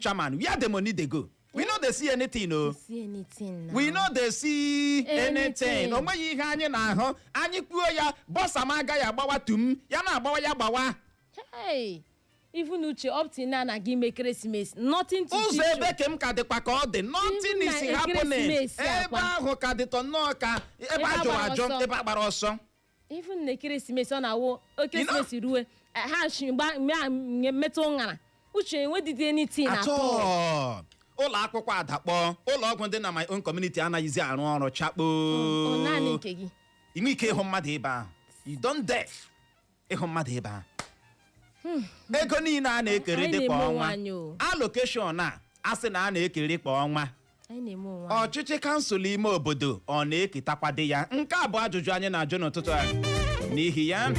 chairman where the money dey go we no dey see anything o see anything now. we no dey see anything Anything. o nweghị ihe anyị na-ahụ anyị kwuo ya bọsa m agaghị agbawa tum ya na-agbawa ya gbawa Hey, even uche up till now na gị mee Christmas nothing to teach you. ụzọ ebe ke m ka dịkwa ka ọ dị nothing is happening ebe ahụ ka dịtọ nnọọ ka ebe a jụrụ ajụ ebe a gbara ọsọ even na Christmas ọ na-awụ Christmas ruwe eh, ha shi gba- mgbe a nye- metụ ụṅara uche enwedịghị anything at all. ụlọ akwụkwọ adakpọ ụlọ ọgwụ dị na my own community anaghịzi arụ ọrụ chakpo Ọ naanị nke gị inwe ike ịhụ mmadụ ebe ahụ you don't dare ịhụ mmadụ ebe ahụ ego niile a na-ekeri dị kwa ọnwa alokeshọn a a sị na a na-ekeri kwa ọnwa anyị na-eme onwe anyị ọchịchị kansụl ime obodo ọ na-eketakwadị ya nke a bụ ajụjụ anyị na-ajụ n'ụtụtụ a n'ihi ya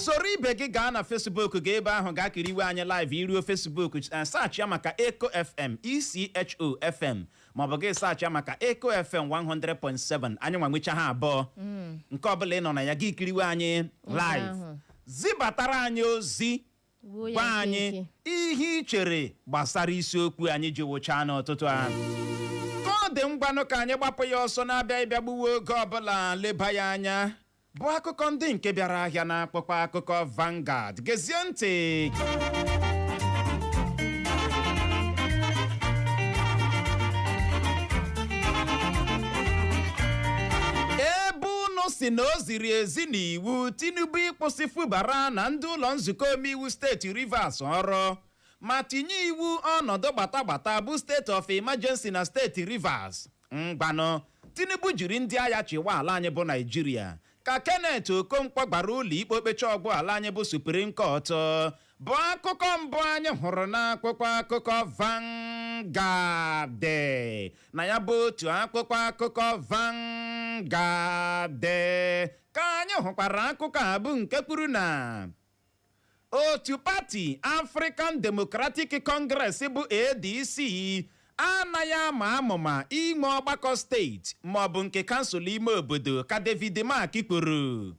soro ibe gị gaa na fesbuk gaa ebe ahụ gaa kiriwe anyị live i ruo fesbuk eh, search ya maka Echo FM E C H O FM maọbụ gị saachị ya maka Echo FM 100.7 anyị nwa nwecha ha abụọ nke ọbụla ị nọ na ya gị kiriwe anyị live zibatara anyị ozi gwa anyị ihe ị chere gbasara isiokwu anyị ji wụchaa n'ụtụtụ a ka ọ dị ngwanụ ka anyị gbapụ ya ọsọ na-abịaghị ịbịa gbuwe oge ọbụla leba ya anya bụ akụkọ ndị nke bịara ahịa na akwụkwọ akụkọ Vanguard gezie ntị ebe unu sị na o ziri ezi n'iwu Tinubu ịkwụsị Fubara na ndị ụlọ nzukọ omeiwu steeti Rivers ọrụ ma tinye iwu ọnọdụ gbatagbata bụ state of emergency na steeti Rivers Ngwanụ, Tinubu jiri ndị agha chịwa ala anyị bụ Naịjirịa, ka Kenneth Okonkwo gbara ụlọikpe okpecha ọ gwụ ala anyị bụ Supreme Court bụ akụkọ mbụ anyị hụrụ n'akwụkwọ akụkọ Vanguard na ya bụ otu akwụkwọ akụkọ Vanguard ka anyị hụkwara akụkọ a bụ nke kwuru na otu pati African Democratic Congress bụ ADC anaghị ama amụma inwe ọgbakọ steeti maọbụ nke kansụl ime obodo ka David Mark kwuru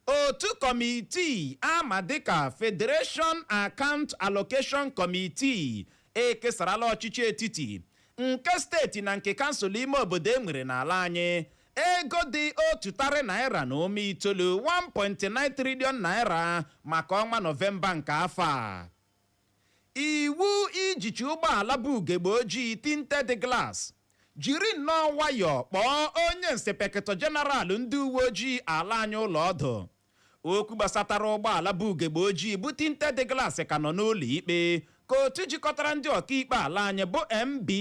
otu kọmitii a ma dịka Federation Account Allocation Committee ekesarala ọchịchị etiti nke steeti na nke kansụl ime obodo e nwere n'ala anyị ego dị otu tarị naira na ụma itoolu 1.9 trillion naira maka ọnwa nọvemba nke afọ a iwu ijichi ụgbọala bu ugegbe ojii tinted glass jiri nnọọ nwayọọ kpọọ onye nsepekịtọ jeneral ndị uwe ojii ala anyị ụlọ ọdụ okwu gbasatara ụgbọala bu ugegbe ojii bụ tinted glass ka nọ n'ụlọ ikpe ka otu jikọtara ndị ọkaikpe ala anyị bụ nba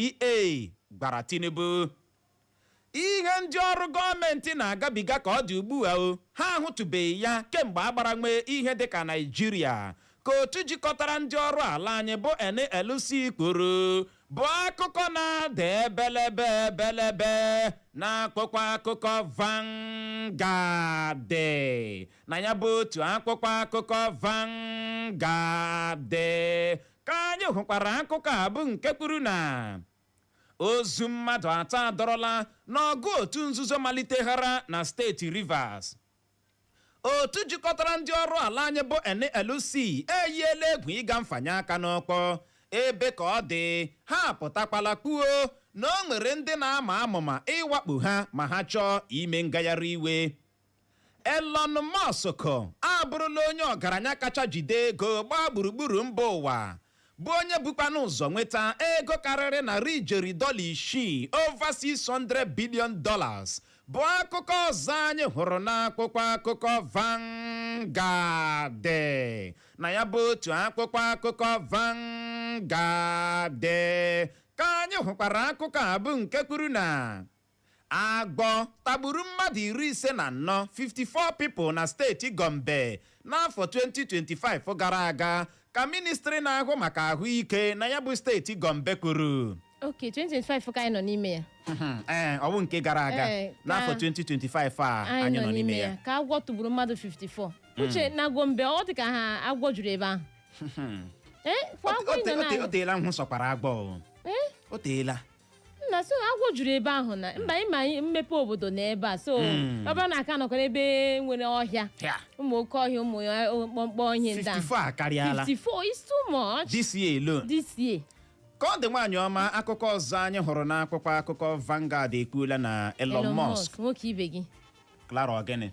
gwara tinubu Ihe ndị ọrụ gọọmentị na-agabiga ka ọ dị ugbua o, ha ahụtụbeghị ya kemgbe a gbara nwee ihe dịka Naịjirịa, ka otu jikọtara ndị ọrụ ala anyị bụ NLC kwuru, bụ akụkọ na-ada ebelebe ebelebe n'akwụkwọ akụkọ Vanguard. Na ya bụ otu akwụkwọ akụkọ Vanguard ka anyị hụkwara akụkọ a bụ nke kwuru na Ozu mmadụ atọ adọrọla n'ọgụ otu nzuzo maliteghara na steeti Rivers. Otu jikọtara ndị ọrụ ala anyị bụ NLC eyiela egwu ịga mfanye aka n'ọkpọ ebe ka ọ dị ha apụtakwala kwuo na o nwere ndị na-ama amụma ịwakpo ha ma ha chọọ ime ngagharị iwe. Elon Musk abụrụla onye ọgaranya kacha jide ego gbaa gburugburu mba ụwa bụ onye bukwanụ ụzọ nweta ego karịrị narị ijeri dọla isii over 600 billion dollars bụ akụkọ ọzọ anyị hụrụ n'akwụkwọ akụkọ Vanguard na ya bụ otu akwụkwọ akụkọ Vanguard ka anyị hụkwara akụkọ a bụ nke kwuru na Agwọ tagburu mmadụ iri ise na anọ 54 people na steeti Gombe n'afọ 2025 gara aga ka ministri na-ahụ maka ahụike na ya bụ steeti Gombe kwuru. ok 2025 ka anyị nọ n'ime ya Ee, ọ bụ nke gara aga Ee, ka- n'afọ 2025 a anyị nọ n'ime ya. ka agwọ tagburu mmadụ 54 uche na gombe ọ dị ka ha agwọ juru ebe ahụ ee kwa O- agwọ o- ị nọ o- o- na o teela m hụ sọkwara agwọ o. o teela nna so agwọ juru ebe ahụ na mba ị ma mmepe obodo na ebe a so Mm. ọ bụrụ na a ka nọkwa n'ebe nwere ọhịa Ya, ụmụ oke ọhịa ụmụ ya- mkpọmkpọ ọhịa ndị a 54 akarịala 54 is too much this year alone this year ka ọ dị nwaanyị ọma akụkọ ọzọ anyị hụrụ n'akwụkwọ akụkọ Vanguard ekwuola na Elon Musk nwoke ibe gị Clara Ogene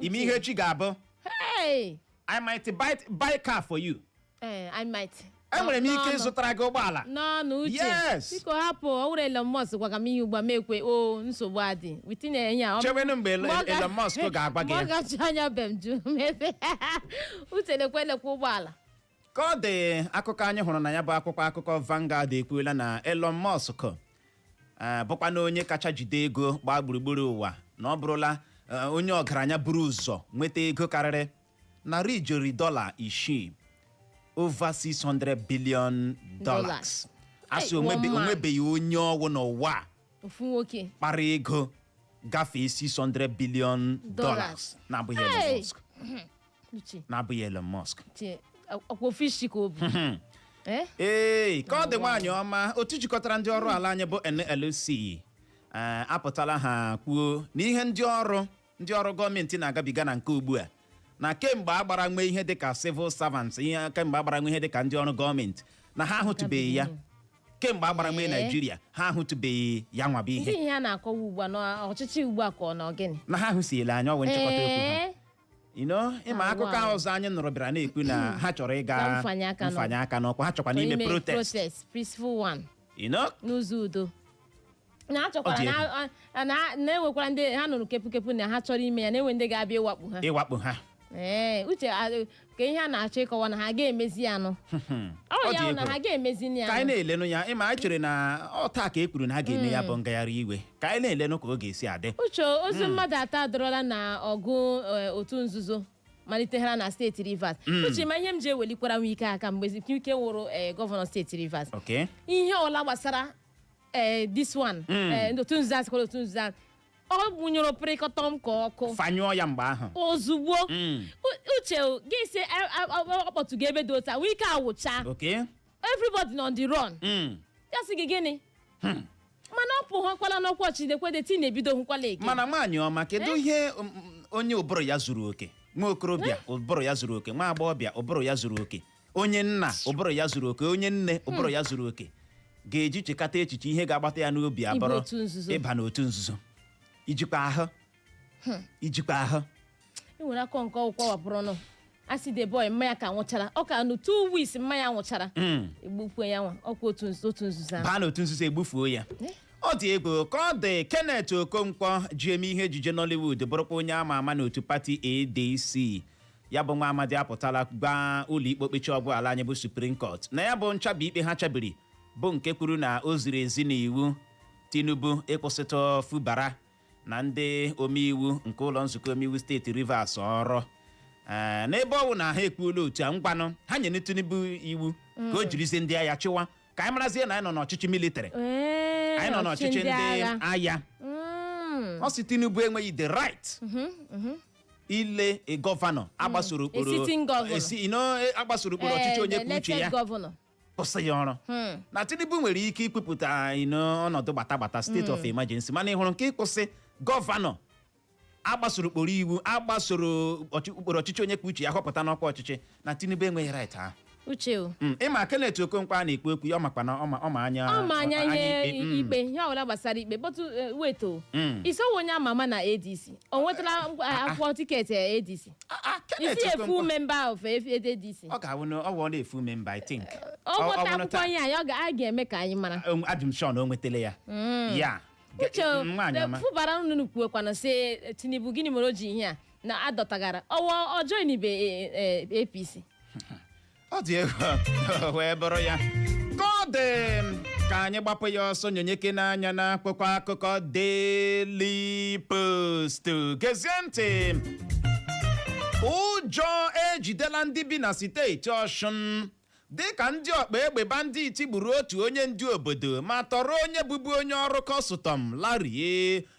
ị ma ihe echi ga-abụ Hey! i might buy, buy car for you Eh, I might. enwere m ike N'ọnụ. ịzụtara gị ụgbọala n'ọnụ uche Yes. biko hapụ ọ wụrụ Elon Musk gwaga m ihe ugbua m ekwe o nsogbu adị within a year, ọ- chewenụ mgbe Elon- mgbe ọ ga- Elon Musk ga-agwa gị mgbe ya. ọ gacha anya be m jụ mebe uche lekwe lekwe ụgbọala ka ọ dị akụkọ anyị hụrụ na ya bụ akwụkwọ akụkọ Vanguard ekwuola na Elon Musk eh, bụkwanụ onye kacha jide ego gbaa gburugburu ụwa na ọ bụrụla eh, onye ọgaranya buru ụzọ nweta ego karịrị narị ijeri dọla isii over 600 billion dollars Dollars. a sị Hey, onwebe- one man. o nwebeghị onye ọ wụ n'ụwa a ofu nwoke kpara ego gafee 600 billion dollars Dollars. na-abụghị Elon Hey! Musk uche na-abụghị Elon Musk uche ọ kwa ofu isi ka o bu Eh? ee ka ọ dị nwaanyị ọma otu jikọtara ndị ọrụ ala anyị bụ NLC eh, apụtala ha kwuo na ihe ndị ọrụ ndị ọrụ gọọmenti na-agabiga na nke ugbu a na kemgbe a gbara nwe ihe dịka civil servants ihe kemgbe a gbara nwe ihe dịka ndị ọrụ gọọmenti na ha ahụtụbeghị ya kemgbe a gbara nwe Ee. Naijiria ha ahụtụbeghị ya nwa bụ ndị ihe ihe a na-akọwa ugbu a n'ọchịchị ugbu a ka ọ nọ gịnị na ha ahụsiela anya ọ wụ nchịkọta okwu ha Ee. You know, ị ma Ah, akụkọ wow. ahụ ọzọ anyị nụrụ bịara na-ekwu na ha chọrọ ịga Ka mfanye aka n'ọkpa. mfanye aka n'ọkpa ha chọkwanụ ime Ime protest protest peaceful one You know, n'ụzọ udo na ha Ọ dị chọkwara egwu. na- a- na- na-enwekwara ndị ha nụrụ kepukepu na ha chọrọ ime ya na-enwe ndị ga-abịa ịwakpo ha ịwakpo ha ee uche a- ka ihe a na-achọ ịkọwa na ha ga-emezi ya nụ ọ Ọ ya dị bụ na egwu. ha ga-emezi ya ka anyị nụ. na-elenụ ya ị ma anyị chere na ọ taa ka e kwuru na ha ga-eme ya bụ ngagharị iwe ka anyị na-elenụ ka ọ ga-esi adị uche ozu mmadụ atọ adọrọla na ọgụ eh, otu nzuzo malitegara na steeti rivers uche ma ihe m ji ewelikwara wike aka mgbe wike wụrụ eh, gọvanọ steeti rivers okay ihe ọla gbasara eh, this one eh, otu nzuzo a sịkwara otu nzuzo a ọ gbụnyụrụ pịrịkọtọm ka ọkụ fanyụọ ya mgbe ahụ ozugbo Mm. U- uche gị sị ọ kpọtụgo ebe dị otu a wike awụcha okay everybody on the run Mm. ya sị gị gịnị mana ọ pụghọkwala n'ọkwa chidekwede ti na-ebido hụkwala eke mana nwaanyị ọma kedu ihe um, um, onye ụbụrụ ya zuru oke nwa okorobịa ụbụrụ ya zuru oke nwa agbọghọbịa ụbụrụ ya zuru oke onye nna ụbụrụ ya zuru oke onye nne ụbụrụ ya zuru oke ga-eji chekata echiche ihe ga-agbata ya n'obi abụrụ otu nzuzo. ịba n'otu nzuzo ijikwa ahụ ijikwa ahụ e nwere akọ nke ọgwụ kwawapụrụ ọnụ a sị the boy mama ya ka nwụchara ọ ka nụ two weeks mama ya nwụchara Mm. egbukwe ya nwa ọ kwa otu nzu- otu nzuzo ahụ baa n'otu nzuzo egbufuo ya ọ dị egwu ka ọ dị kenneth okonkwo ji eme ihe ejije nollywood bụrụkwa onye ama ama n'otu pati adc ya bụ nwa amadi apụtala gwa ụlọikpe okpechi ọgwụ ala anyị bụ supreme court na ya bụ nchabi ikpe ha chabiri bụ nke kwuru na o ziri ezi n'iwu tinubu ịkwụsịtụ fubara na ndị omeiwu nke ụlọ nzukọ omeiwu steeti Rivers ọrụ Ee, n'ebe ọ bụ na ha ekwuola otu a ngwanụ ha nyere Tinubu iwu ka o jirizie ndị agha chịwa ka anyị marazie na anyị nọ n'ọchịchị military Ee, anyị nọ n'ọchịchị ndị agha. agha Mm. ọ sị Tinubu enweghị the right ile a gọvanọ agbasoro ụkpụrụ A sitting governor. esi- you know, agbasoro ụkpụrụ ọchịchị Eh, onye the kwuo uche elected ya governor. kwụsị ya ọrụ na tinubu nwere ike ikwupụta anyị n'ọnọdụ gbata gbata state of emergency mana ị hụrụ nke ịkwụsị gọvanọ agbasoro ụkpụrụ iwu agbasoro ọchị- ụkpụrụ ọchịchị onye kwuo uche ya họpụta n'ọkwa ọchịchị na tinubu enweghị right ahụ uche o Mm, ịma kenneth okonkwo a na-ekwu okwu ya ọ makwa na ọ ma- ọ ma anya ọ ma anya ihe ikpe, mm. ikpe ihe ọbụla gbasara ikpe but weto Mm. isowo onye ama ama na adc o nwetala ngwa- akwụkwọ tiketi eh, adc Ah, ah, Kenneth he's a full Okonkwo. member of adc ọ ga-awụ na ọ wụ a full member i think ọ Ọ- ọ nweta bụrụ akwụkwọ taa- ya ya ọ ga- a ga-eme ka anyị mara Um, I'm sure o nwetele ya ya Ge- uche mm, nwaanyị ọma fubara unu kwuekwana si eh, tinubu gịnị mere o ji ihe a na adọtagara ọwa join the eh, eh, apc ọ dị egwu o wee bụrụ ya ka ọ dị ka anyị gbapụ ya ọsọ nyonyeke n'anya na akwụkwọ akụkọ Daily Post gezie ntị ụjọ ejidela ndị bi na steeti Ọshụn dịka ndị ọkpa egbe banditi gburu otu onye ndu obodo ma tọrọ onye bụbu onye ọrụ kọstọm larie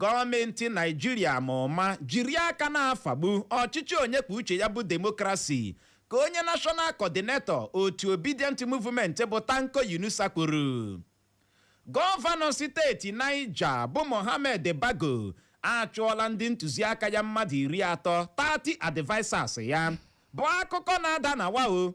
Gọọmenti Naịjirịa ma ụma jiri aka na-afagbu ọchịchị onye kwuo uche ya bụ demokrasi, ka onye National Coordinator otu Obidient Movement bụ Tanko Yunusa kwuru. Gọvanọ steeti Niger bụ Mohammed Bago achụọla ndị ntụziaka ya mmadụ iri atọ, 30 advisers ya, bụ akụkọ na-ada na wa o.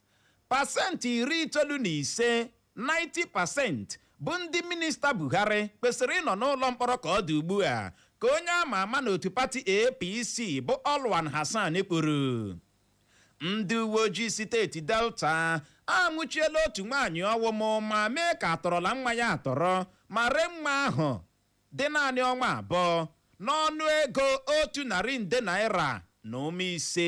Pasentị iri itoolu na ise, 90%, bụ ndị Minista Buhari kwesịrị ịnọ n'ụlọ mkpọrọ ka ọ dị ugbu a, ka onye a ma ama n'otu pati APC bụ Alwan Hassan kwuru. Ndị uwe ojii steeti Delta anwụchiela otu nwaanyị ma ụma mee ka a tọrọla nwa ya atọrọ ma ree nwa ahụ dị naanị ọnwa abụọ n'ọnụ ego otu narị nde naira na ụma ise.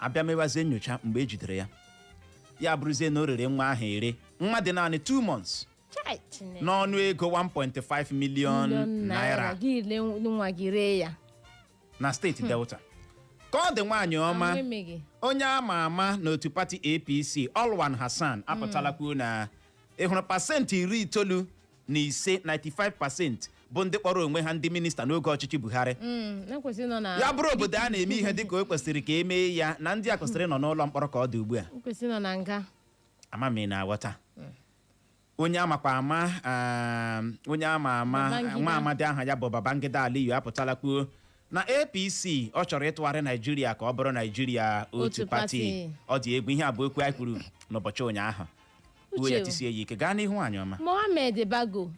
a bịa mewazie nyocha mgbe e jidere ya ya abụrụzie na o rere nwa ahụ ere nwa dị naanị 2 months Chai, Chineke. n'ọnụ ego 1.5 million Miliọn naira gị le nwa gị ree ya na steeti delta ka ọ dị nwaanyị ọma Ahụ emeghị. onye a ma ama n'otu pati apc alwan hassan apụtala kwuo na ị hụrụ pasentị iri itoolu na ise 95 pasenti bụ ndị kpọrọ onwe ha ndị minista n'oge ọchịchị Buhari mm, e ya bụrụ obodo a na-eme ihe dịka o kwesịrị ka e mee ya na ndị a kwesịrị nọ n'ụlọ mkpọrọ ka ọ dị ugbu a e ama m ị na-aghọta mm. onye amakwa ama um, onye ama ama nwa amadi aha ya bụ Babangida Aliyu apụtala kwuo na apc ọ chọrọ ịtụgharị naijiria ka ọ bụrụ naijiria otu Otu pati pati. ọ dị egwu ihe a bụ okwu anyị kwuru n'ụbọchị ụnyaahụ uwe ya Uche. tisie ya ike gaa n'ihu nwaanyị ọma mohammed bago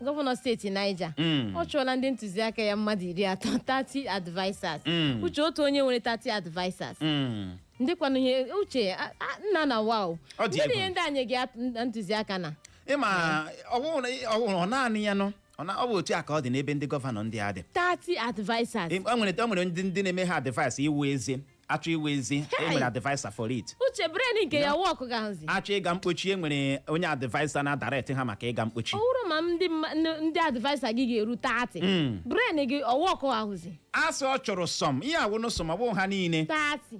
gọvanọ steeti niger Mm. ọ chụọla ndị ntụziaka ya mmadụ iri atọ 30 advisers Mm. uche otu onye nwere 30 advisers Mm. ndị kwanụ ihe uche a- a- nna na wa o Ọ dị ndị egwu. ihe ndị enye gị ntụziaka na ị ma ọ wụrụ ọ wụrụ ọ naanị ya nọ ọ na- ọ bụ otu a ka ọ dị n'ebe ndị gọvanọ ndị a dị 30 advisers Em- o nwere o nwere ndị ndị na-eme ha advice iwu ezi achọ iwu ezi e Hey! nwere adviser for it uche brain nke ya workụ ga-ahụzi achọ ịga mkpochi e nwere onye adviser na-adirect ha maka ịga mkpochi ọ bụrụ ma ndị mma- ndị- ndị adviser gị ga-eru 30 brain gị ọ workụ ahụzi a sị ọ chụrụ some ihe a wụnụ some ọ bụghị ha niile 30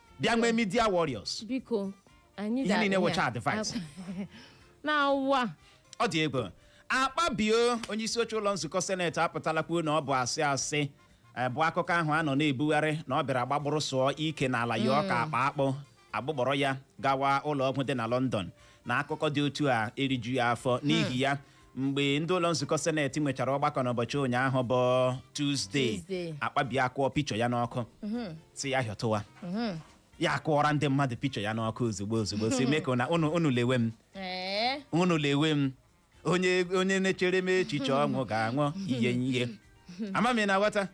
bịa nwee media warriors biko anyị Ihe niile wụcha advice. na wa ọ dị egwu akpabio onye isi oche ụlọ nzukọ seneti apụtala kwuo na ọ bụ asị asị eh, bụ akụkọ ahụ a nọ na-ebugharị na ọ bịara gbagbụrụ sụọ ike n'ala ya ọka akpa akpụ agbụgbọrọ ya gawa ụlọ ọgwụ dị na lọndọn na akụkọ dị otu a erijughị ya afọ n'ihi ya mgbe ndị ụlọ nzukọ seneti nwechara ọgbakọ n'ụbọchị ụnyaahụ bụ tuzdee Tuesday. akpabio akụọ picture ya n'ọkụ si ya hịọtụwa ya akụọra ndị mmadụ picture ya n'ọkụ ozugbo ozugbo si mee ka ụna- unu unu lewe m Ee, unu lewe m onye onye na-echere m echiche ọnwụ ga-anwụ ihe ihe ama m ị na-aghọta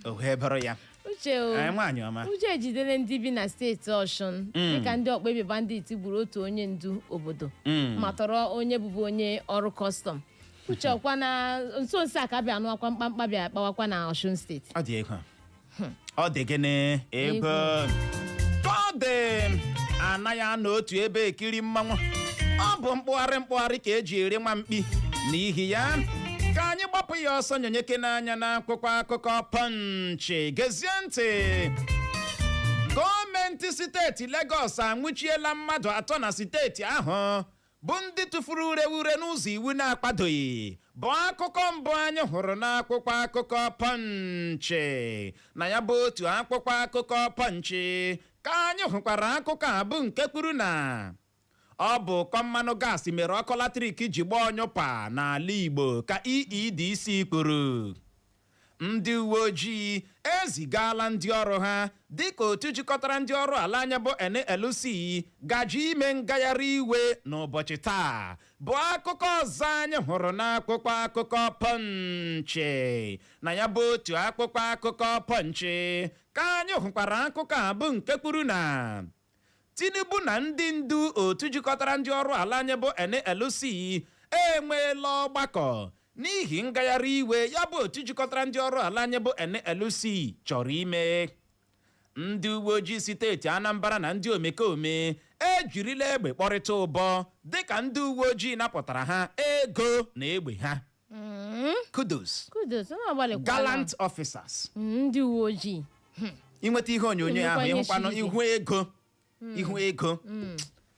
o wee bụrụ ya uche o Ee, nwaanyị ọma ụjọ ejidele ndị bi na steeti ọshụn dịka ndị ọkpa egbe bandit gburu otu onye ndu obodo Mm. ma tọrọ onye bụbu onye ọrụ kọstọm uche ọ kwa na nso nso a ka bịa anụ akwa mkpamkpa bịa kpawakwa na ọshụn steeti ọ dị egwu ọ dị gịnị egwu ka ọ dị anaghị anọ otu ebe ekiri mmanwụ ọ bụ mkpụgharị mkpụgharị ka eji eri nwa mkpi n'ihi ya ka anyị gbapụ ya ọsọ nyonyekene anya n'akwụkwọ akụkọ pọnchị gezie ntị gọọmenti steeti Lagos anwụchiela mmadụ atọ na steeti ahụ bụ ndị tụfuru ureure n'ụzọ iwu na-akwadoghị bụ akụkọ mbụ anyị hụrụ n'akwụkwọ akụkọ pọnchị na ya bụ otu akwụkwọ akụkọ pọnchị ka anyị hụkwara akụkọ a bụ nke kwuru na Ọ bụ ụkọ mmanụ gaasị mere ọkụ latrik ji gbaa ọnyụpa n'ala Igbo ka EEDC kwuru. Ndị uwe ojii ezigaala ndị ọrụ ha dịka otu jikọtara ndị ọrụ ala anyị bụ NLC gaje ime ngagharị iwe n'ụbọchị taa bụ akụkọ ọzọ anyị hụrụ n'akwụkwọ akụkọ pọnchị na ya bụ otu akwụkwọ akụkọ pọnchị ka anyị hụkwara akụkọ a bụ nke kwuru na Tinubu na ndị ndu otu jikọtara ndị ọrụ ala anyị bụ NLC enweela ọgbakọ n'ihi ngagharị iwe ya bụ otu jikọtara ndị ọrụ ala anyị bụ NLC chọrọ ime. Ndị uwe ojii steeti Anambra na ndị omekome ejirila egbe kpọrịta ụbọ dịka ndị uwe ojii napụtara ha ego na egbe ha. Mm, kudos kudos unu agbalịkwala. gallant officers Mm, ndị uwe ojii i nweta ihe onyonyo Nnukwu ahụ ihe ị hụkwanụ siri ike. ihu ego ihu ego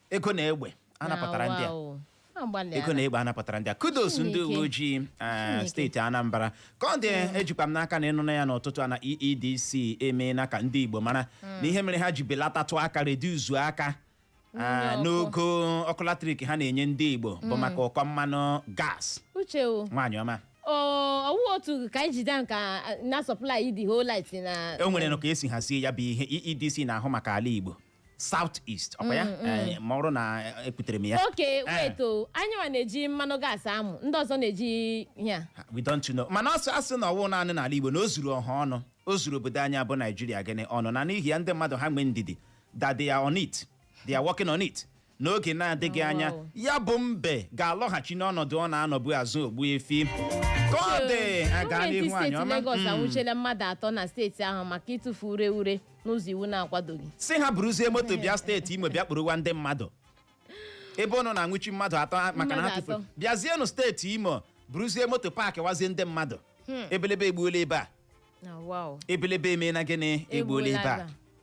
ego na egbe anapụtara ndị a Wow. Agbalịala. ego na egbe anapụtara ndị a kudos ndị Chineke. uwe ojii eh, Chineke. steeti anambra ka ọ dị ejikwa m n'aka na ị nụna ya n'ụtụtụ a na eedc emeela ka ndị igbo mara na ihe mere ha ji belatatụ aka reduzuo aka Ah, n'ogo ọkụ latrik ha na-enye ndị igbo bụ maka ụkọ mmanụ gas uche o nwaanyị ọma ọ wụ otu Kainji dam ahụ ka ah, na-supply the whole light na o nwerenụ ka e si hazie ya bụ ihe EEDC na-ahụ maka ala igbo South East ọ kwa ya Eh, ma ọrụ na eh, ekwutere m ya okay Eh, wait o anyị nwa na-eji mmanụ gas amụ ndị ọzọ na-eji ya we don't know mana a sị a sị na ọ wụ naanị n'ala igbo na o zuru ọha ọnụ o zuru obodo anyị a bụ Naịjirịa gịnị ọnụ na n'ihi ya ndị mmadụ ha nwee ndidi that they are on it they are working on it n'oge na-adịghị Oh, anya wow. ya bụ mbe ga-alọghachi n'ọnọdụ ọ na-anọbu azụ Ogbuefi ka ọ dị a gaa gọọmenti n'ihu nwaanyị steeti ọma Lagos Mm. anwụchiela mmadụ atọ na steeti ahụ maka ịtụfu ure ure n'ụzọ iwu na-akwadoghị sị ha buruzie moto bịa steeti imo bịa kpụrụwa ndị mmadụ ebe ụnụ na-anwụchi mmadụ atọ ha- maka na ha Mmadụ tụfuru atọ. bịazienụ steeti imo buruzie moto paakịwazie ndị mmadụ ebelebe egbuola ebe a Na wow. ebelebe emeela gịnị egbuola ebe a Egbuola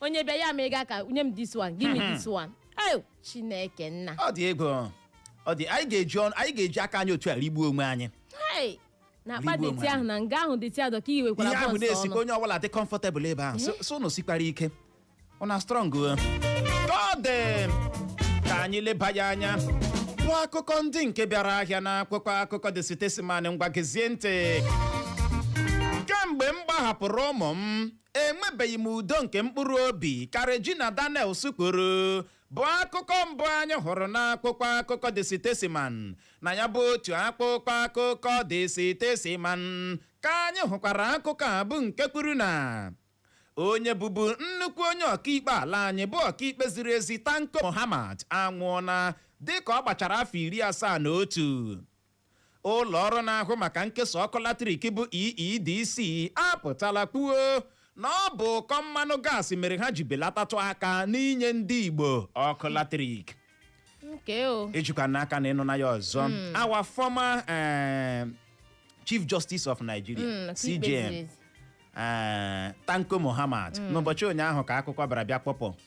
onye bịa ya ma ị ga ka nye m this one give me this one ayo chineke nna ọ dị ego ọ dị anyị ga-eji ọnụ anyị ga-eji aka anyị otu a rigbuo onwe anyị Hey! na akpa Rigbuo deti onwe ahụ na nga ahụ deti a dọ ka i wekwara ihe ahụ bọnsụ na-esikwanụ onye ọbụla dị kọmfọtebụl ebe ahụ so- so unu sikwara ike una strong ka ọ dị ka anyị leba ya anya bụ akụkọ ndị nke bịara ahịa na akwụkwọ akụkọ The Statesman ngwa gezie ntị kemgbe m gbahapụrụ ụmụ m enwebeghị m udo nke mkpụrụ obi ka Regina Daniels kwuru bụ akụkọ mbụ anyị hụrụ n'akwụkwọ akụkọ The Statesman na ya bụ otu akwụkwọ akụkọ The Statesman ka anyị hụkwara akụkọ a bụ nke kwuru na onye bụbu nnukwu onye ọkaikpe ala anyị bụ ọkaikpe ziri ezi Tanko Muhammad anwụọla dịka ọ gbachara afọ iri asaa na otu ụlọ ọrụ na-ahụ maka nkesa ọkụ latrik bụ EEDC apụtala kwuo na ọ bụ ụkọ mmanụ gaasị mere ha ji belatatụ aka n'inye ndị Igbo ọkụ latrik nke o ejikwa n'aka na ị nụna ya ọzọ our former eh, chief justice of nigeria Mm, ọkaikpe CJN ziri ezi. eh, Tanko Muhammad n'ụbọchị ụnyaahụ ka akụkọ bịara bịa kpọpụ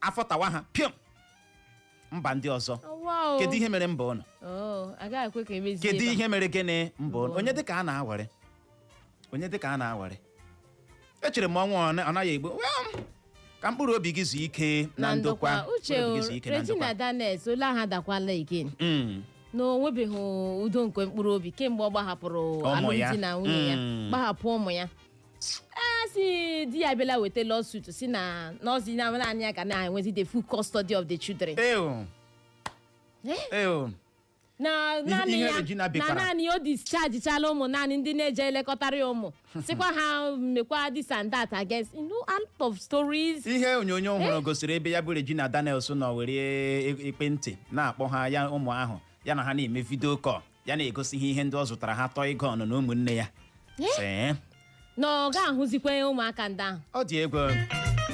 afọ tawa ha pịọm mba ndị ọzọ Awa o. kedu ihe mere mba ụnụ kedu ihe mere gịnị mba ụnụ onye dịka a na-awere onye dịka a na-awere echere m ọnwa ọ naghị egbu Well, ka mkpụrụ obi gị zuo ike na ndokwa uche Regina Daniels ole aha dakwala again Mm. na o nwebeghị udo nke mkpụrụ obi kemgbe ọ gbahapụrụ alụmdi na nwunye ya Mm. gbahapụ ụmụ ya a sị di ya bịala weta lawsuit sị na nọọ sọ na naanị ya ga na-enwezi the full custody of the children Ew. Ew. na naanị ihe ya Regina na bekara. naanị ya o dischargichala ụmụ nanny ndị na-eje elekọtara ya ụmụ sịkwa ha mekwa this and that against you know a lot of stories ihe onyonyo ọhụrụ gosiri ebe ya bụ Regina Daniels nọ were ekwentị na-akpọ ha ya ụmụ ahụ ya na ha na-eme vidio kọl ya na-egosi ha ihe ndị ọ zụtara ha tọọ ịga ọnụ na ụmụnne ya sị "Eh, na ọ ga-ahụzikwa ụmụaka ndị ahụ ọ dị egwu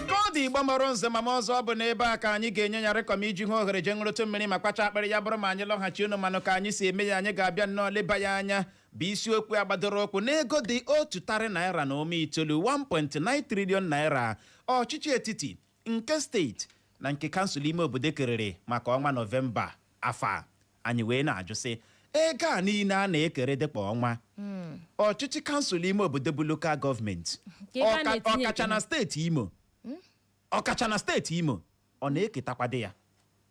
ka ọ dị igbo mụrụ nze ma mụọ ọzọ ọ bụ na ebe a ka anyị ga-enye ya rịkọm iji hụ ohere jee ṅụrụtụ mmiri ma kwacha akpịrị ya bụrụ ma anyị lọghachi unu manụ ka anyị si eme ya anyị ga-abịa nnọọ leba ya anya bụ isiokwu a gbadoro ụkwụ n'ego dị otu tarị naira na ụma itoolu 1.9 trillion naira ọchịchị etiti nke steeti na nke kansụl ime obodo kerere maka ọnwa nọvemba afọ a anyị wee na-ajụ sị ego a niile a na-ekere dị kwa ọnwa ọchịchị kansụl ime obodo bụ lokal gọọmenti ọkacha na steeti imo ọ na-eketakwadị ya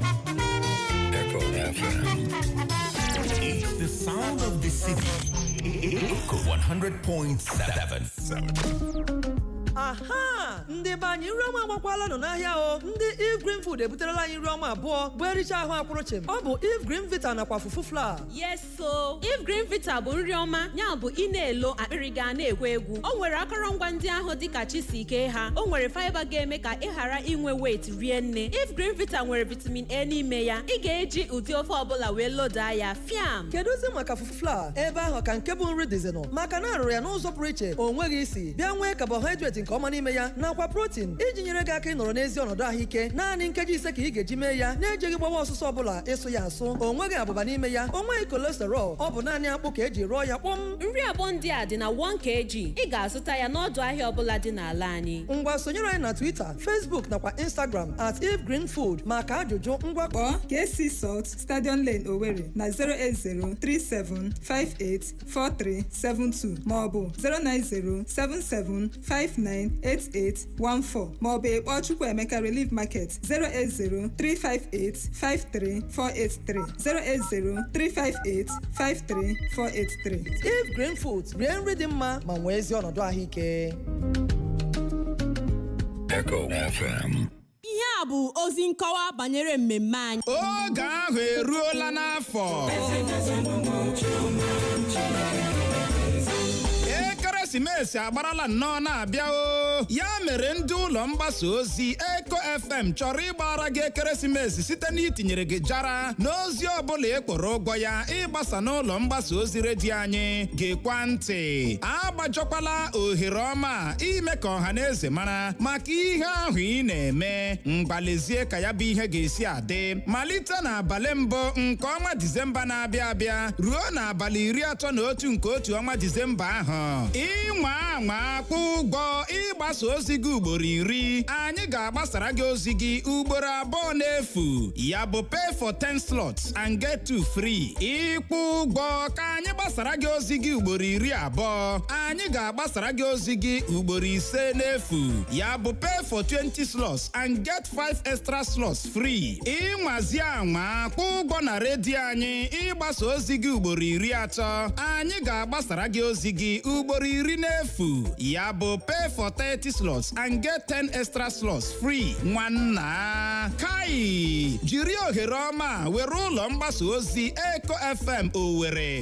Echo FM. It's the sound of the city. Echo 100.7. aha ndị be anyị nri ọma agbakwalanụ n'ahịa o ndị Eve Green Food ebuterela anyị nri ọma abụọ bụ e richaa ahụ akwụrụ chịm ọ bụ Eve Green Vita nakwa fufu flour Yes, so Eve Green Vita bụ nri ọma ya bụ ị na-elo akpịrị gị ana-egwu egwu o nwere akọrọngwa ndị ahụ dịka chi si kee ha o nwere fiber ga-eme ka ị ghara inwe weight rie nne Eve Green Vita nwere vitamin a n'ime ya ị ga-eji ụdị ofe ọbụla wee lodaa ya fiam kedụzi maka fufu flour ebe ahụ ka nke bụ nri dịzinụ maka na a rụrụ ya n'ụzọ pụrụ iche o nweghị isi bịa nwee carbohydrate nke ọma n'ime ya nakwa protein iji nyere gị aka ịnọrọ n'ezi ọnọdụ ahụike naanị nkeji ise ka ị ga-eji mee ya na-ejeghị gbawa ọsụsọ ọbụla ịsụ ya asụ o nweghị abụba n'ime ya o nweghị cholesterol ọ bụ naanị akpụ ka e ji rụọ ya kpọm nri abụọ ndị a dị na 1 kg ị ga-azụta ya n'ọdụ ahịa ọbụla dị n'ala anyị ngwa sonyere anyị na twitter facebook nakwa instagram at Eve Green Food maka ajụjụ ngwa Kpọọ KC Salt Stadium Lane Owerri na 08037584372 maọbụ 090775988 14 maọbụ ị kpọọ Chukwuemeka Relief Market 08035853483 08035853483 Eve Green Food rie nri dị mma ma nwee ezi ọnọdụ ahụike Echo FM Ihe a bụ ozi nkọwa banyere mmemme anyị. oge ahụ eruola n'afọ ekeresimesi agbarala nnọọ na-abịa o ya mere ndị ụlọ mgbasa ozi Echo FM chọrọ ịgbara gị ekeresimesi site n'itinyere gị jara n'ozi ọbụla ị kwụrụ ụgwọ ya ịgbasa n'ụlọ mgbasa ozi redio anyị geekwa ntị agbajọkwala ohere ọma ime ka ọha na eze mara maka ihe ahụ ị na-eme ngwa lezie ka ya bụ ihe ga-esi adị malite n'abalị mbụ nke ọnwa disemba na-abịa abịa ruo n'abalị iri atọ na otu nke otu ọnwa disemba ahụ ị nwaa anwa kwụọ ụgwọ ịgbasa ozi gị ugboro iri anyị ga-agbasara gị ozi gị ugboro abụọ n'efu ya bụ pay for 10 slots and get two free ị kwụọ ụgwọ ka anyị gbasara gị ozi gị ugboro iri abụọ anyị ga agbasara gị ozi gị ugboro ise n'efu ya bụ pay for 20 slots and get 5 extra slots free ị nwazie anwa kwụọ ụgwọ na redio anyị ịgbasa ozi gị ugboro iri atọ anyị ga-agbasara gị ozi gị ugboro iri n'efu ya bụ pay for 30 slots and get 10 extra slots free nwanna ka i jiri ohere ọma a were ụlọ mgbasa ozi Echo FM owere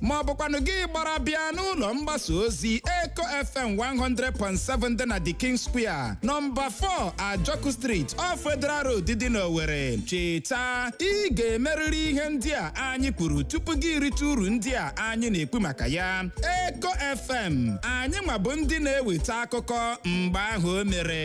ma ọ bụkwanụ gị gbara bịa n'ụlọ mgbasa ozi Echo FM 100.7 dị na the king square nọmba 4 ajọku street off Wetheral road dị n'owere cheta ị ga-emerịrị ihe ndị a anyị kwuru tupu gị erite uru ndị a anyị na-ekwu maka ya Echo FM anyị nwa bụ ndị na-eweta akụkọ mgbe ahụ o mere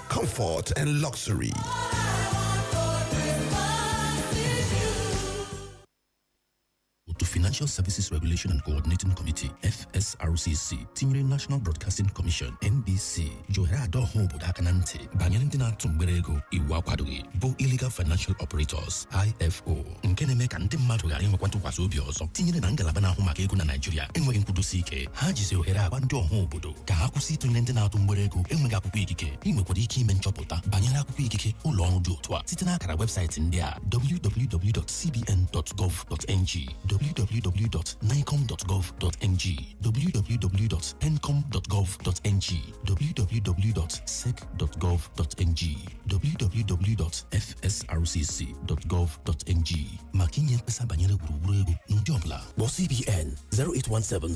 comfort and luxury. otu Financial Services Regulation and Coordinating Committee FSRCC tinyere National Broadcasting Commission NBC ji ohere adọ ọha obodo aka na ntị banyere ndị na-atụ mgbere ego iwu akwadoghị bụ Illegal Financial Operators IFO nke na-eme ka ndị mmadụ ghara inwekwa ntụkwasị obi ọzọ tinyere na ngalaba na-ahụ maka ego na Naịjirịa enweghị nkwudosi ike ha jizi ohere agwa ndị ọha obodo ka ha kwụsị ịtụnyere ndị na-atụ mgbere ego enweghị akwụkwọ ikike i nwekwara ike ime nchọpụta banyere akwụkwọ ikike ụlọ ọrụ dị otu a site n'akara webụsaịtị ndị a www.cbn.gov.ng www.naicom.gov.ng www.pencom.gov.ng www.sec.gov.ng www.fsrcc.gov.ng maka inye mkpesa banyere wuruwuru ego n'ụdị ọbụla kpọọ CBN 0817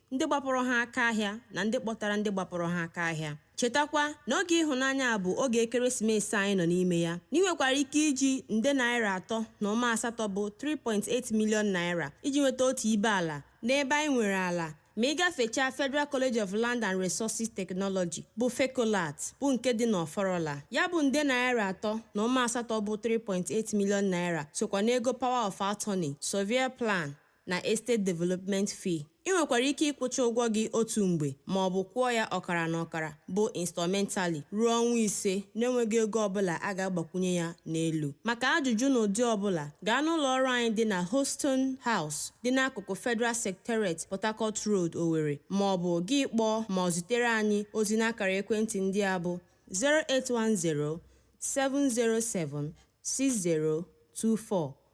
ndị gbapụrụ ha aka ahịa na ndị kpọtara ndị gbapụrụ ha aka ahịa chetakwa na oge ịhụnanya a bụ oge ekeresimesi anyị nọ n'ime ya na i nwekwara ike iji nde naira atọ na ụma asatọ bụ 3.8 million naira iji nweta otu ibe ala n'ebe anyị nwere ala ma ị gafechaa Federal College of Land and Resources Technology bụ FECOLART bụ nke dị n'Ọfọrọla ya bụ nde naira atọ na ụma asatọ bụ 3.8 million naira sokwa n'ego power of attorney, surveyor plan na Estate Development Fee. I nwekwara ike ịkwụcha ụgwọ gị otu mgbe ma ọ bụ kwụọ ya ọkara na ọkara, bụ installmentally, ruo ọnwa ise na-enweghị ego ọ bụla a ga-agbakwunye ya n'elu. Maka ajụjụ n'ụdị ọ bụla, gaa n'ụlọ ọrụ anyị dị na Houston House, dị n'akụkụ Federal Secretariat, Port Harcourt Road, Owerri, ma ọ bụ gị kpọọ ma ọ zitere anyị ozi n'akara ekwentị ndị a bụ 0810 707 6024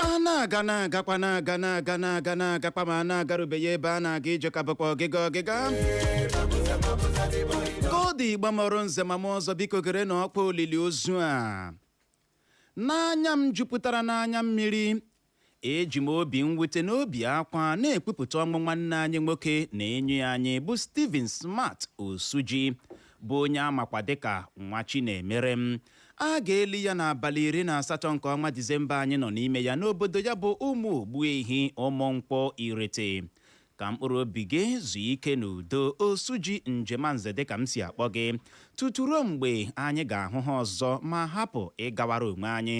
a na-aga na-agakwa na-aga na-aga na-aga na-agakwa ma a na-agarubeghị ebe a na-aga ije ka bụkwa ọgịga ọgịga ndị Igbo mụrụ nze mụọ ọzọ biko gerenụ ọkwa olili ozu a n'anya m jupụtara n'anya mmiri eji m obi mwute na obi akwa na-ekwupụta ọnwụ nwanne anyị nwoke na enyi anyị bụ Stephen Smart Osuji bụ onye amakwa dịka Nwachinemerem A ga-eli ya n'abalị iri na asatọ nke ọnwa Disemba anyị nọ n'ime ya n'obodo ya bụ Ụmụ Ogbuehi Ụmụnkwọ Irete. Ka mkpụrụ obi gị zuo ike n'udo Osuji Njemanze dịka m si akpọ gị tutu ruo mgbe anyị ga-ahụ ha ọzọ ma hapụ ịgawara onwe anyị.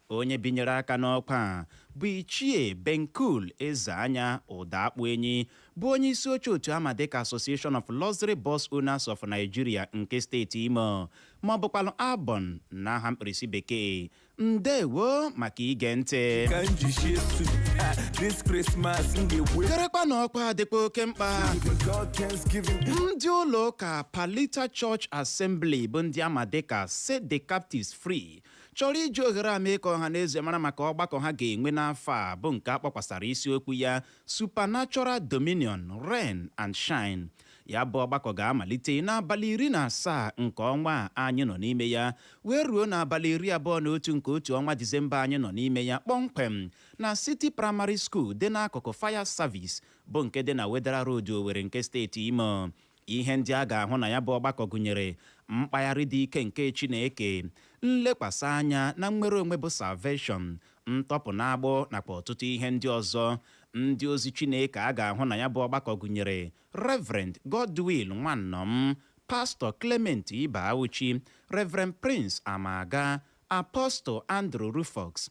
Onye binyere aka n'ọkwa a bụ Ichie Benkul Ezeanya Ụdaakpụenyi bụ onye isi oche otu ama dịka Association of Luxury Bus Owners of Nigeria nke steeti Imo ma ọ bụkwanụ ALBON n'aha mkpirisi bekee. Ndewo maka ige ntị. ka m ji shie stu Ah, this Christmas m ga-egbu Gerekwa na ọkwa a dịkwa oke mkpa. Giving God Thanksgiving ndị ụlọ ụka palita church assembly bụ ndị ama dịka set the captives free chọrọ iji ohere a mee ka ọha na eze mara maka ọgbakọ ha ga-enwe n'afọ a bụ nke a kpọkwasara isiokwu ya Supernatural Dominion, Reign and Shine. Ya bụ ọgbakọ ga-amalite n'abalị iri na asaa nke ọnwa a anyị nọ n'ime ya wee ruo n'abalị iri abụọ na otu nke otu ọnwa Disemba anyị nọ n'ime ya kpọmkwem na City Primary School dị n'akụkụ Fire Service bụ nke dị na Wetheral Road Owerri nke steeti Imo. Ihe ndị a ga-ahụ na ya bụ ọgbakọ gụnyere mkpagharị dị ike nke Chineke, nlekwasị anya na nnwere onwe bụ salvation, ntọpụ n'agbụ, nakwa ọtụtụ ihe ndị ọzọ. Ndị ozi Chineke a ga-ahụ na ya bụ ọgbakọ gụnyere Reverend Godwill Nwannọm, Pastor Clement Ibeawuchi, Reverend Prince Amaga, Apostle Andrew Ruffox,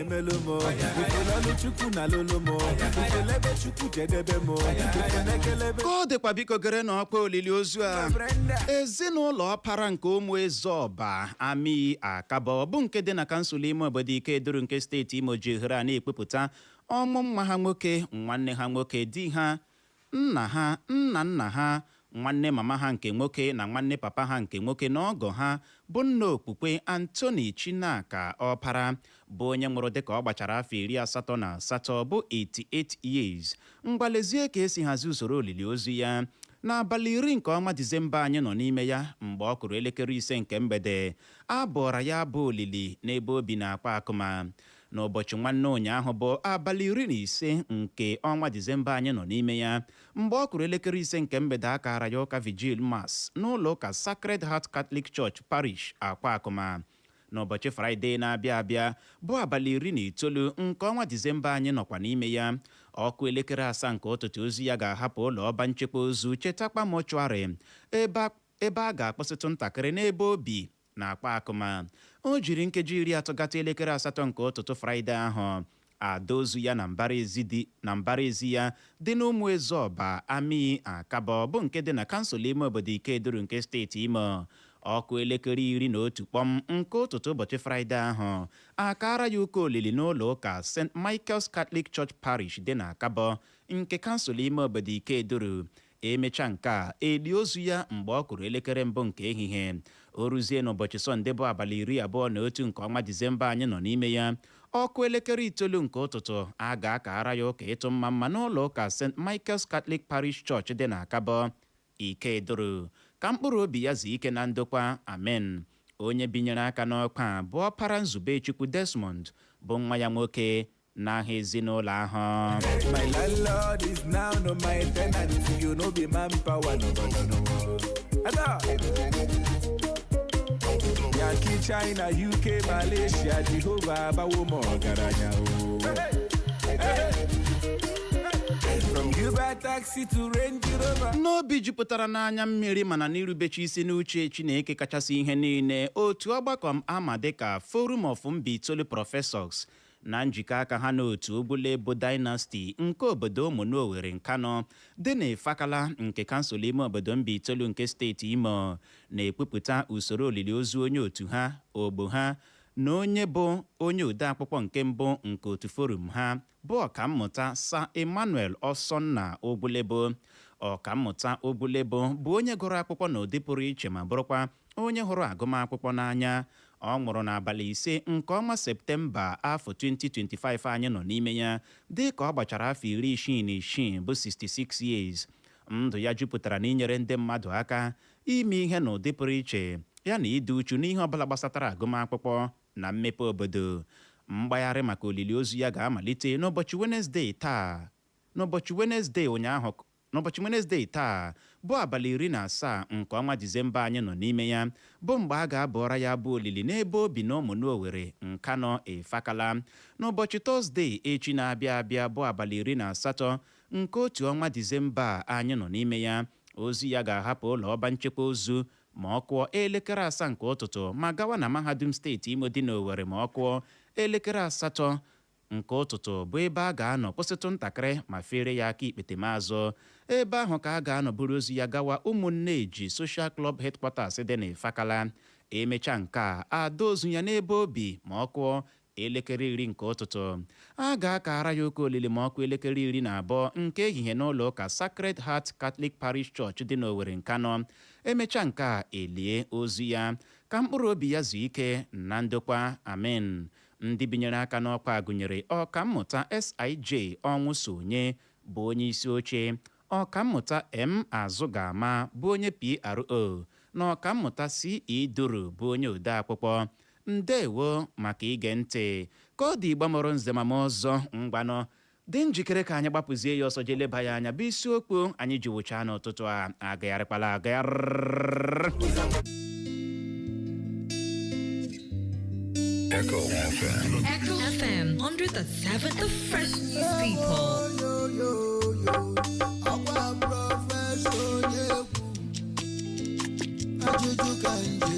emelu m ifelọlụ chukwu na lụlụ m ifelebe chukwu jedebe m ifelekelebe ka ọ dịkwa biko gere na ọkwa olili ozu a ezinụlọ ọpara nke ụmụ ezeọba amii akabọ bụ nke dị na kansụl ime obodo ikeduru nke steeti imo ji ohere a na-ekwupụta ọnwụ nwa ha nwoke nwanne ha nwoke di ha Nna ha, nna nna ha, nwanne mama ha nke nwoke na nwanne papa ha nke nwoke na ọgọ ha bụ nna okpukpe Anthony Chinaka Ọpara, bụ onye nwụrụ dịka ọ gbachara afọ iri asatọ na asatọ, bụ 88 years. Ngwa lezie ka e si hazie usoro olili ozu ya. N'abalị iri nke ọnwa Disemba anyị nọ n'ime ya, mgbe ọ kụrụ elekere ise nke mgbede, a bụọra ya abụ olili n'ebe o bi n'Akwakụma. n'ụbọchị nwanne ụnyaahụ bụ abalị iri na ise nke ọnwa disemba anyị nọ n'ime ya mgbe ọ kụrụ elekere ise nke mgbede a kaara ya ụka vigil mass n'ụlọ ụka sacred heart catholic church parish akwakụma n'ụbọchị fraịde na-abịa abịa bụ abalị iri na itoolu nke ọnwa disemba anyị nọkwa n'ime ya ọ kụọ elekere asaa nke ụtụtụ ozu ya ga-ahapụ ụlọ ọba nchekwa ozu chetakpa mortuary ebe a ga-akwụsịtụ ntakịrị n'ebe o bi na akwakụma o jiri nkeji iri atọ gata elekere asatọ nke ụtụtụ fraịde ahụ a dọọ ozu ya na mbara ezi ya dị n'ụmụ ezeọba amii akabọ bụ nke dị na kansụl ime obodo ikeduru nke steeti imo ọ kụọ elekere iri na otu kpọm nke ụtụtụ ụbọchị fraịde ahụ a kaara ya ụka olili n'ụlọ ụka st michael's catholic church parish dị na akabọ nke kansụl ime obodo ikeduru E mechaa nke a, e lie ozu ya mgbe ọ kụrụ elekere mbụ nke ehihie. O ruzie n'ụbọchị Sọnde bụ abalị iri abụọ na otu nke ọnwa Disemba anyị nọ n'ime ya, ọ kụọ elekere itoolu nke ụtụtụ, a ga-akara ya ụka ịtụ mma mma n'ụlọ ụka St. Michael's Catholic Parish Church dị n'Akabọ, Ikeduru. Ka mkpụrụ obi ya zuo ike na ndokwa. Amen. Onye binyere aka n'ọkwa a bụ ọpara Nzubechukwu Desmond bụ nwa ya nwoke n'aha ezinụlọ ahụ My landlord is now no my tenant. E no be manpower, no no no no. Ada. Yankee, China, UK, Malaysia, Jehovah, abawo m ọgaranya o. From Uber taxi to Range Rover. n'obi jupụtara n'anya mmiri mana n'irubechi isi n'uche Chineke kachasị ihe niile otu ọgbakọ a ma dịka Forum of Mbaitolu Professors na njikọ aka ha na otu Ugwulebo Dynasty nke obodo Ụmụnụ Owerri Nkanọ dị n'Ifakala nke kansụl ime obodo Mbaitolu nke steeti Imo na-ekwupụta usoro olili ozu onye otu ha, ogbo ha na onye bụ onye odeakwụkwọ nke mbụ nke otu forum ha bụ Ọkammụta Sir Emmanuel Osonna Ugwulebo. Ọkammụta Ugwulebo bụ onye gụrụ akwụkwọ n'ụdị pụrụ iche ma bụrụkwa onye hụrụ agụmakwụkwọ n'anya. Ọ nwụrụ n'abalị ise nke ọnwa Septemba afọ 2025 anyị nọ n'ime ya dịka ọ gbachara afọ iri isii na isii bụ 66 years. Ndụ ya jupụtara n'inyere ndị mmadụ aka, ime ihe n'ụdị pụrụ iche, ya na ịdị uchu n'ihe ọbụla gbasatara agụmakwụkwọ na mmepe obodo. Mgbagharị maka olili ozu ya ga-amalite n'ụbọchị Wenezdee taa. N'ụbọchị Wenezdee ụnyaahụ N'ụbọchị Wenezdee taa, bụ abalị iri na asaa nke ọnwa Disemba anyị nọ n'ime ya, bụ mgbe a ga-abụọra ya abụ olili n'ebe o bi n'Ụmụnụ Owerri, Nkanọ, Ifakala. N'ụbọchị Tọzdee echi na-abịa abịa, bụ abalị iri na asatọ nke otu ọnwa Disemba a anyị nọ n'ime ya, ozu ya ga-ahapụ ụlọ ọba nchekwa ozu ma ọ kụọ elekere asaa nke ụtụtụ ma gawa na Mahadum Steeti Imo dị n'Owerri ma ọ kụọ elekere asatọ nke ụtụtụ bụ ebe a ga-anọ kwụsịtụ ntakịrị ma feere ya aka ikpetemazụ ebe ahụ ka a ga-anọ buru ozu ya gawa Ụmụnneji Social Club Headquarters dị n'Ifakala e mechaa nke a ada ozu ya n'ebe o bi ma ọ kụọ elekere iri nke ụtụtụ a ga-akara ya ụka olili ma ọ kụọ elekere iri na abụọ nke ehihie n'ụlọ ụka Sacred Heart Catholic Parish Church dị n'Owerri Nkanọ e mechaa nke a e lie ozu ya ka mkpụrụ obi ya zuo ike na ndokwa amen Ndị binyere aka n'ọkwa a gụnyere Ọkammụta SIJ Ọnwụsonye bụ onye isi oche, Ọkammụta M. Azụgama bụ onye PRO na Ọkammụta CE. Duru bụ onye odeakwụkwọ. Ndeewo maka ige ntị. Ka ọ dị Igbo mụrụ nze ma mụọ ọzọ, ngwanụ dị njikere ka anyị gbapụzie ya ọsọ jee leba ya anya bụ isiokwu anyị ji wụchaa n'ụtụtụ a agagharịkwala agagharị Echo FM. Echo FM 100.7 The Fresh News People. ajụjụ ka nje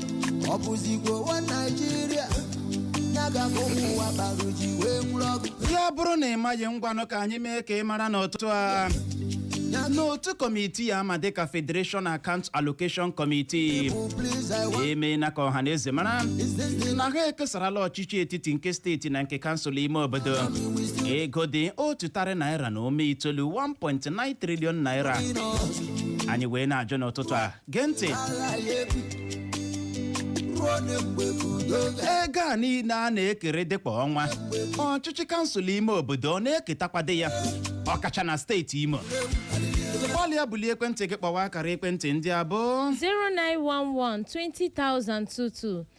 ọ bụzikwa ụwa naijiria ya ga ka ụmụ ụwa kpara ji wee nwụrụ ọgụ ya bụrụ na ị maghị ngwanụ ka anyị mee ka ị mara n'ụtụtụ a n'otu kọmitii a ma dịka Federation Account Allocation Committee emeela ka ọha na eze mara na ha ekesarala ọchịchị etiti nke steeti na nke kansụl ime obodo ego dị otu tarị naira na ụma itoolu 1.9 trillion naira anyị wee na-ajụ n'ụtụtụ a gee ntị ego a niile a na-ekeredị kwa ọnwa ọchịchị kansụl ime obodo ọ na-eketakwadị ya ọkacha na steeti imo gbalịa bulie ekwentị gị kpọwa akara ekwentị ndị a bụ 0911 2022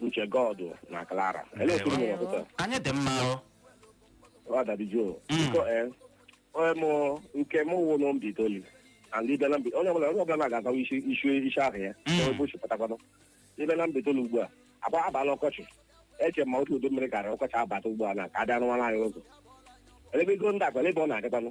uche god na clara ele otu unu mere ụtụtụ a? anyị dị mma o ọ dabijuo Mm. biko ee onye mụ nke mụ wụ na mbaitoli and ibe na mbi onye ọbụla onye ọbụla na-agazawa isi isi isi ahụ ya Mm. ebe ochi pụtakwanụ ibe na mbaitoli ugbu a abala ọkọchị eche ma otu udu mmiri karịa ọkọchị abata ugbu a na ka adị anụmanụ anyị ụzọ ele ebe ego ndị akwa ebe ọ na-adịkwanụ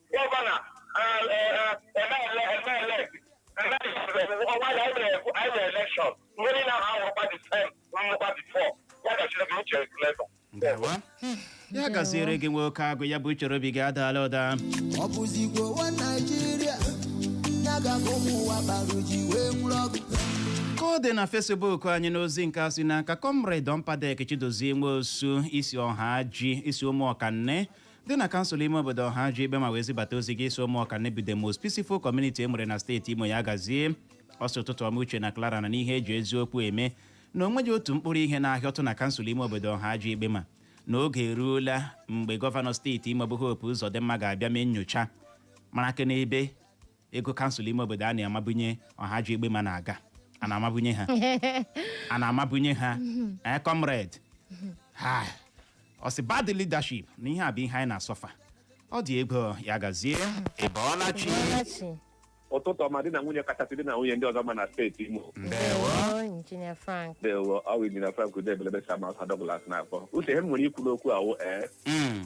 gọvanọ ọnwa na anyị na elekshọn mgbe niile ahụ ahụrụkwa dị sem nnukwa dị fọ ya gaziere gị uche leta ndewo ya gaziere gị nwoke agụ ya bụ uche obi gị adaala ụda ọ bụzikwa ụwa naijiria ya ga ka ụmụ ụwa kpara uji wee nwụrụ ọgụ ka ọ dị na fesbuk anyị n'ozi nke a si n'aka kọmred ọmpadek chidozie nwosu i si ọhaji i si ụmụọkanne dị na kansụl ime obodo ọhaji egbema wee zibata ozi gị ị sị ụmụọkanne bụ the most peaceful community e nwere na steeti imo ya gazie ọ sị ụtụtụ ọma uche na clara na n'ihe eji eziokwu eme na o nweghị otu mkpụrụ ihe na-ahịọtụ na kansụl ime obodo ọhaji egbema na oge eruola mgbe gọvanọ steeti imo bụ hope ụzọdịmma ga-abịa mee nnyocha mara aka n'ebe ego kansụl ime obodo a na-amabunye ọhaji egbema na-aga a na-amabunye ha a na-amabunye ha ee comrade ha ọ sị bad leadership na ihe a bụ ihe anyị na-asọfa ọ dị egwu ya gazie ị bọọla chi. ụtụtụ ọma di na nwunye kachasị di na nwunye ndị ọzọ ma na steeti imo ndewo Ndewo, Injinia Frank. dewo ọ wụ injinia frank ude ebelebe sama si douglas na-akpọ uche ihe m nwere ikwu n'okwu a wụ ee Mm.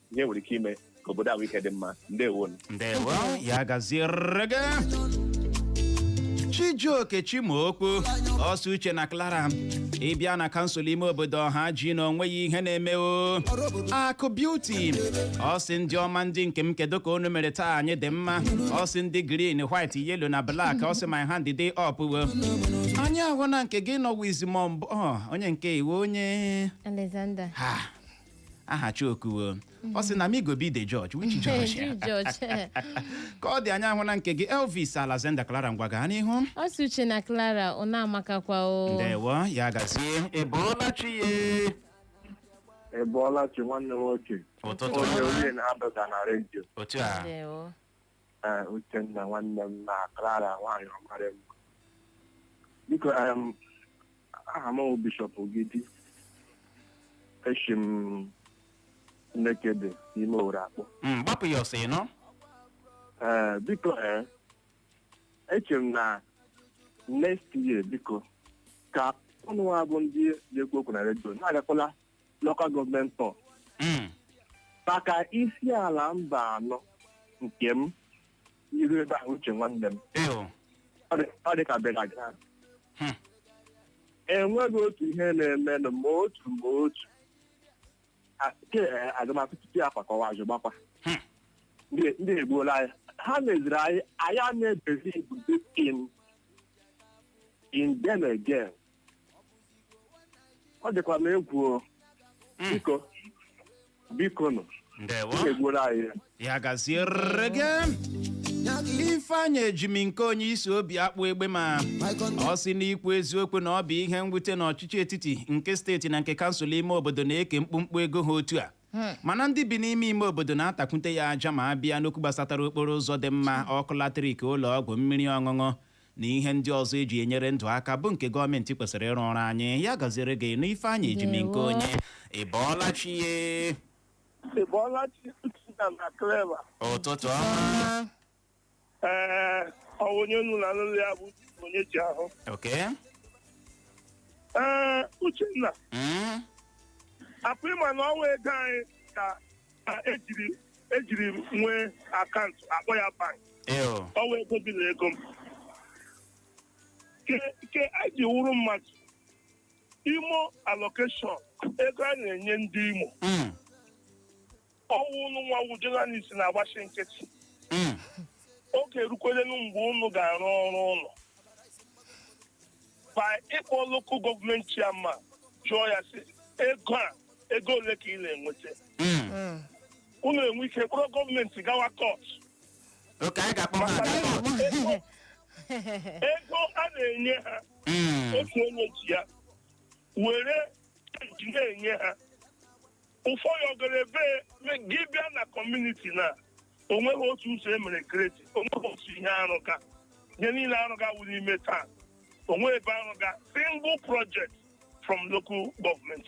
ihe nwere ike ime ka obodo ahụ ike dị mma ndewonu ndewo ya gaziere gị chijioke chimaokwu ọ sị uche na clara ị bịa na kansụl ime obodo Ọhaji na onweghị ihe na-eme o akụ beauty ọ sị ndị ọma ndị nke m kedu ka unu mere taa anyị dị mma ọ sị ndị green white yellow na black ọ sị my hand dey up o anyị ahụna nke gị nọ Wiseman bụ onye nke iwe onye Alexander. ha aha chiokuo ọ sị na me go be the judge which judge Ju judge. ka ọ dị anyị ahụna nke gị elvis Alexander clara ngwa gaa n'ihu ọ sị uche na clara ọ na-amakakwa o ndewo ya gazie ị bọọla chi ya Ị bọọla chi nwanne m nwoke ụtụtụ onye onye na-adọga na redio otu a ndewo ee uchenna nwanne m na clara nwaanyị ọmarị m biko em, aha m bụ bishọp ogidi eshi m Nekede n'ime owere akpọ Mm, gbapụ ya ọsọ ịnọ ee biko ee eche m na next year biko ka ụnụ nwa bụ ndị na-ekwu okwu na redio na-agakwala local government tour Mm. maka Isiala Mbano nke m i ru ebe ahụ uche nwanne m Eyo. Ọ dị- ọ dị ka burial ground Hmm. enweghị otu ihe na-emenụ ma otu ma otu A- ke eh, agụmakwụkwọ tupu ya kwakọwa azụ gbakwa Hmm. ndị ndị egbuola anyị ha meziri anyị anyị a na-ebezi ebube in in them again ọ dịkwa m egwu o. Mm. biko biko nụ ndewo egbuola anyị ya. ya gaziere gị ifeanyị Ejimnkeonye si Obiakpụ Egbema ọ sị n'ikwu eziokwu na ọ bụ ihe mwute na ọchịchị etiti nke steeti na nke kansụl ime obodo na-eke mkpụmkpụ ego ha otu a mana ndị bi n'ime ime obodo na-atakwute ya aja ma a bịa n'okwu gbasatara okporo ụzọ dị mma ọkụ latrik ụlọ ọgwụ mmiri ọṅụṅụ na ihe ndị ọzọ eji enyere ndụ aka bụ nke gọọmenti kwesịrị ịrụ ọrụ anyị ya gaziere gị nụ Ifeanyị Ejimnkeonye Ndewo. ị bọọla chi ye Ị bọọla chi Uchenna na Clara. ụtụtụ ọma Ee, ọ bụ onye unu na-anụ olu ya bụ onye ji ahụ. oke Ee, Uchenna, Mm, apụ ịma na ọ wụ ego anyị ka na ejiri ejiri m nwee akaụntụ akpọ ya bank eo ọ wụ ego gị na ego m ke ke a ji wụrụ mmadụ imo allocation ego a na-enye ndị imo Mm, ọ wụ ụnụ nwa wụ journalist na-agbachi nkịtị mm. oge erukwelenu mgbe ụnụ ga-arụ ọrụ ụnụ by ịkpọ local government chairman jụọ ya sị ego a ego ole ka ị na-enweta Mm. unu enwe ike kpọrọ gọọmenti gawa kọt oke anyị ga-akpọ ha aga kọt ego a na-enye ha Mm. otu onye ji ya were ji na-enye ha ụfọdụ ọ gara ebe gị bịa na kọmuniti na o nweghị otu ụzọ e mere gredi o nweghị otu ihe a rụga ihe niile a rụga wụ n'ime town o nwe ebe a rụga single project from local government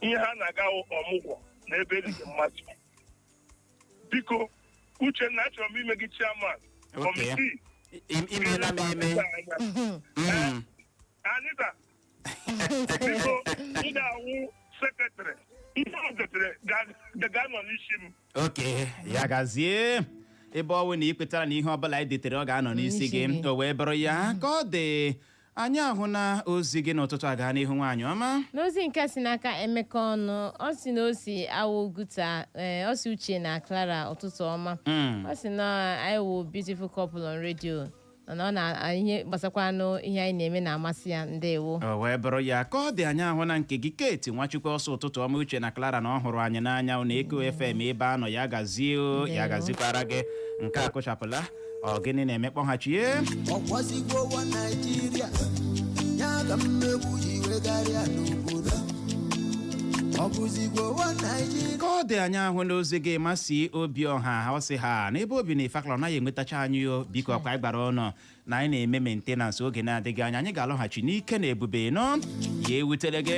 ihe ha na-aga wụ ọmụgwọ na ebe e liri mmadụ biko uchenna achọrọ m ime gị chairman Okay. kọmitii I- imeela m eme Mm. anita biko ị ga-awụ sekretrị ihe o detere ga- ga-anọ n'isi m oke ya gazie ebe ọ wụ na ị kwetara na ihe ọbụla anyị detere ọ ga-anọ n'isi N'isi gị gị. o wee bụrụ ya ka ọ dị anyị ahụna ozi gị n'ụtụtụ a gaa n'ihu nwaanyị ọma n'ozi nke si n'aka emeka ọnụ ọ sị na o si awa oguta ee ọ sị uche na clara ụtụtụ ọma Mm. ọ sị na anyị wụ beautiful couple on radio na ọ na ihe gbasakwanụ ihe anyị na-eme na-amasị ya ndewo o wee bụrụ ya ka ọ dị anyị ahụna nke gị kate nwachukwu ọ sị ụtụtụ ọma uche na clara na ọ hụrụ anyị n'anya na eko fm ebe a nọ ya gazie o, ya Ndewo. gazikwara gị nke a kụchapụla ọ gịnị na-eme kpọghachie ọ kwa ezigbo nwa naijiria ya ka mmegbu ji wegharịa n'obodo ka ọ dị anyị ahụna ozi gị mazị obiọha ọ sị ha n'ebe o bi na ifakala anaghị enwetacha anyị o biko ọkwa anyị gwara unu na anyị na-eme maintenance oge na-adịghị anya anyị ga-alọghachi n'ike na ebube ndo ya ewutele gị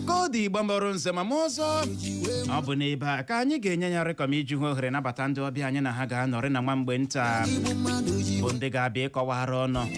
ka ọ dị igbo mụrụ nze mụọ ọzọ ọ bụ n'ebe a ka anyị ga-enye ya rịkọm iji hụ ohere nabata ndị ọbịa anyị na ha ga-anọrị na nwa mgbe nta bụ ndị ga-abịa ịkọwara unu